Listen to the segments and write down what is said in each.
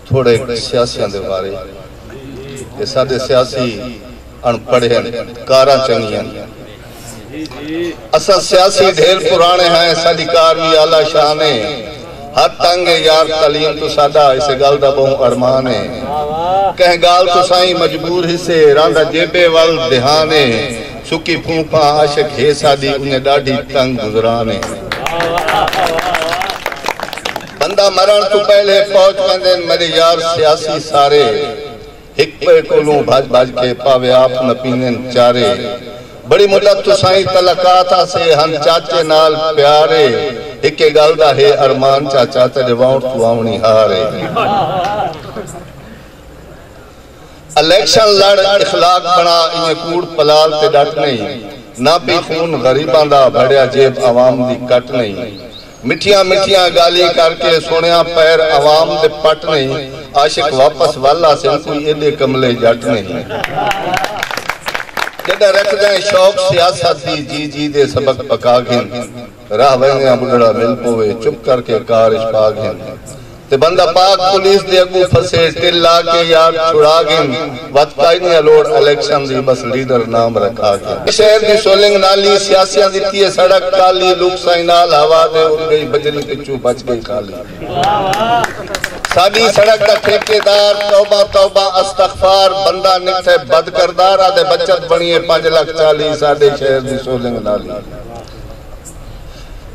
تھوڑے سیاسیاں دے بارے کہ ساڈے سیاسی اݨ پڑھے ہن کاراں چنگیاں ہن اساں سیاسی ڈھیر پرانے ہیں ساڈی کار وی اعلی شان ہے ہر تنگ ہے یار تعلیم تو ساڈا اسے گل دا بہوں ارمان ہے کہیں گال تو سائیں مجبور ہی سے راندا جیبے ول دھیان ہے سکی پھونپھاں عاشق ہے ساڈی انہیں ڈاڈھی تنگ گزران ہے بندہ مرݨ توں پہلے پہچ ویندن میݙے یار سیاسی سارے ہک ٻئے کولوں بھڄ بھڄ کے پاوے آپ نہ پیندن چارے بڑی مدت توں سائیں تلقات آسے ہن چاچے نال پیارے ہکے ڳالھ دا ہے ارمان چاچا تیݙے وانوݨ توں آوݨی ہارے الیکشن لڑ اخلاق بݨا ایویں کوڑ پلال تے ݙٹ نئیں نہ پی خون غریباں دا بھڑیا جیب عوام دی کٹ نئیں مٹھیاں مٹھیاں گالھیں کر کے سنڑیا پیر عوام دے پٹ نہیں عاشق واپس ول آسن کوئی ایڈے کملے جٹ نہیں جڈاں رکھدیں شوق سیاست دی جی جی دے سبق پکا گھن راہ ویندیاں بڈھڑا مل پووے چپ کر کے کار اچ پا گھن تے بندہ پاک پولیس دے اگوں پھسے ٹل لا کے یار چھڑا گھن وت کائ نی الوڑ الیکشن دی بس لیڈر نام رکھا گھن شہر دی سولنگ نالی سیاسیاں دی تھیے سڑک کالی لوک سائیں نال ہوا دے اڑ گئی بجری تے چو بچ گئی خالی ساڈی سڑک دا ٹھیکے دار توبہ توبہ استغفار بندہ نکھے بد کردار آدھے بچت بنیے پنج لکھ چالی ساڈے شہر دی سولنگ نالی۔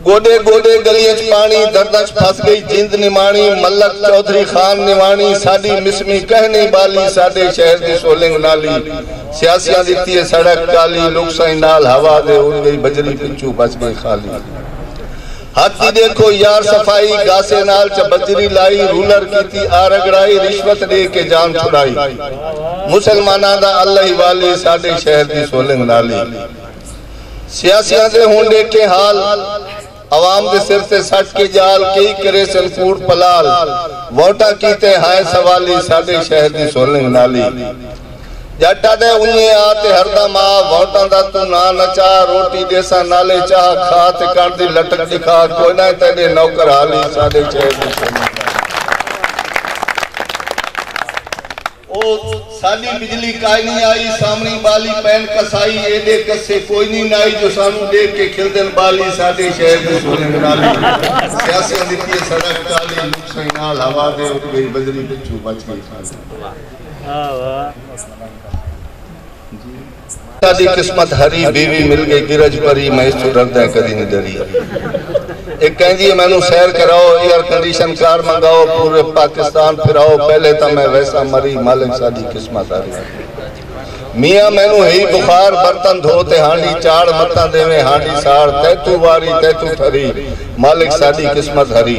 گوڈے گوڈے گلیاں اچ پاݨی درداں اچ پھس گئی جند نماݨی ملک چوہدری خان نواݨی ساݙی مسمی کہنی ٻالی ساݙے شہر دی سولنگ نالی سیاسیاں ݙتی اے سڑک کالی لک سئیں نال ہوا دے اݙ گئی بجری پچھوں بچ گئی خالی ہتھ دی ݙیکھو یار صفائی گاسے نال چ بجری لائی رولر کیتی آ رڳڑائی رشوت ݙے کے جان چھڑائی مسلماناں دا اللہ ہی والی ساݙے شہر دی سولنگ نالی۔ سیاسیاں دے ہن ݙیکھیں حال عوام دے سر تے سٹ کے ڄال کئی کریسن کوڑ پلال ووٹاں کیتے ہائے سوالی ساݙے شہر دی سولنگ نالی ڄٹ آدھے انجھے آ تے ہردم آ ووٹاں دا توں ناں نہ چا روٹی ݙیساں نالے چاہ کھا تے کݨ دی لٹک ݙکھا کوئی نہ اے تیݙے نوکر حالی ساݙے شہر دی سولنگ نالی۔ او ساݙی بجلی کائنی آئی سامݨی ٻالی پین کسائی ایݙے کسے کوئنی نائی جو سانوں ݙیکھ کے کھلدن ٻالی ساݙے شہر دے سونے منالی سیاسیاں ݙتی اے سڑک کالی لوک سئیں نال ہوا دے اݙ ڳئی بجری پچھوں بچ ڳئی خالی۔ ساڈی قسمت ہری بیوی مل گئی گرج پری میں اس توں ڈردیں کدی نی ڈری اے کہندی اے مینوں سیر کراؤ ایئر کنڈیشن کار منگاؤ پورے پاکستان پھراؤ پہلے تاں میں ویساں مری مالک ساڈی قسمت ہری میاں مینوں ہئی بخار برتن دھو تے ہانڈی چاڑھ متاں ڈیویں ہانڈی ساڑ تیتوں واری تیتوں ٹھری مالک ساڈی قسمت ہری۔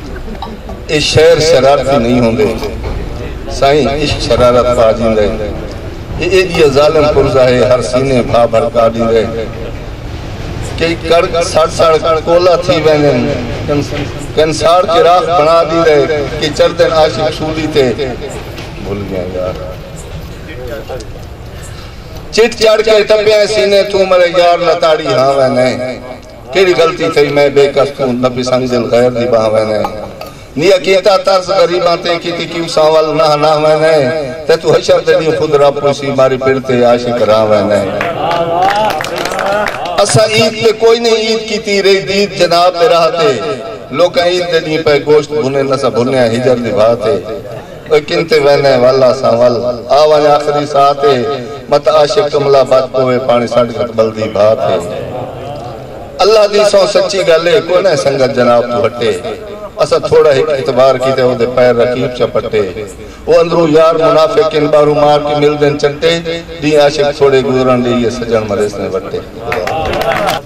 اے شعر شرارتی نئیں ہوندے سائیں عشق شرارت پا ڈیندے اے ایڈیا ظالم پرزہ ہے ہر سینے بھا بھڑکا ڈیندے کئی کڑک سڑ سڑ کولا تھی ویندن کنسار چراغ بنا ڈیندے کہ چڑھدن عاشق سولی تے بھل گیا یار چٹ چڑھ کے ٹپیاں سینے توں مرے یار لتاڑی ہاں ویندے کیڑی غلطی تھئی میں بے کس کوں نبی سنگ دل غیر دی بانہہ وینے نیا کیتا طرز غریباں تے کیتی کیوں ساں ول نہہ نہہ وینے تے تو حشر دے ڈینہوں خود رب پوچھسی ماری پڑ تے عاشق راں وینے اساں عید تے کوئی نئیں عید کیتی رہی دید جناب دے راہ تے لوکاں عید دے ڈینہہ پئے گوشت بھنے نساں بھنیا ہجر دی بھاہ تے۔ اوئے کن تے ویندیں ول آساں ول آ ونج آخری ساہ تے مت عاشق کملا بچ پووے پاݨی سٹ گھت ٻلدی بھا تے اللہ دی سوں سچی ڳل اے کوئ نہ سنگت جناب توں ہٹے اساں تھوڑا ہک اعتبار کیتے او دے پیر رقیب چا پٹے او اندروں یار منافق ان ٻاہروں مار کے ملدن چٹے ݙینہہ عاشق تھوڑے گزرݨ ݙیئیے سڄݨ مریسن وٹے۔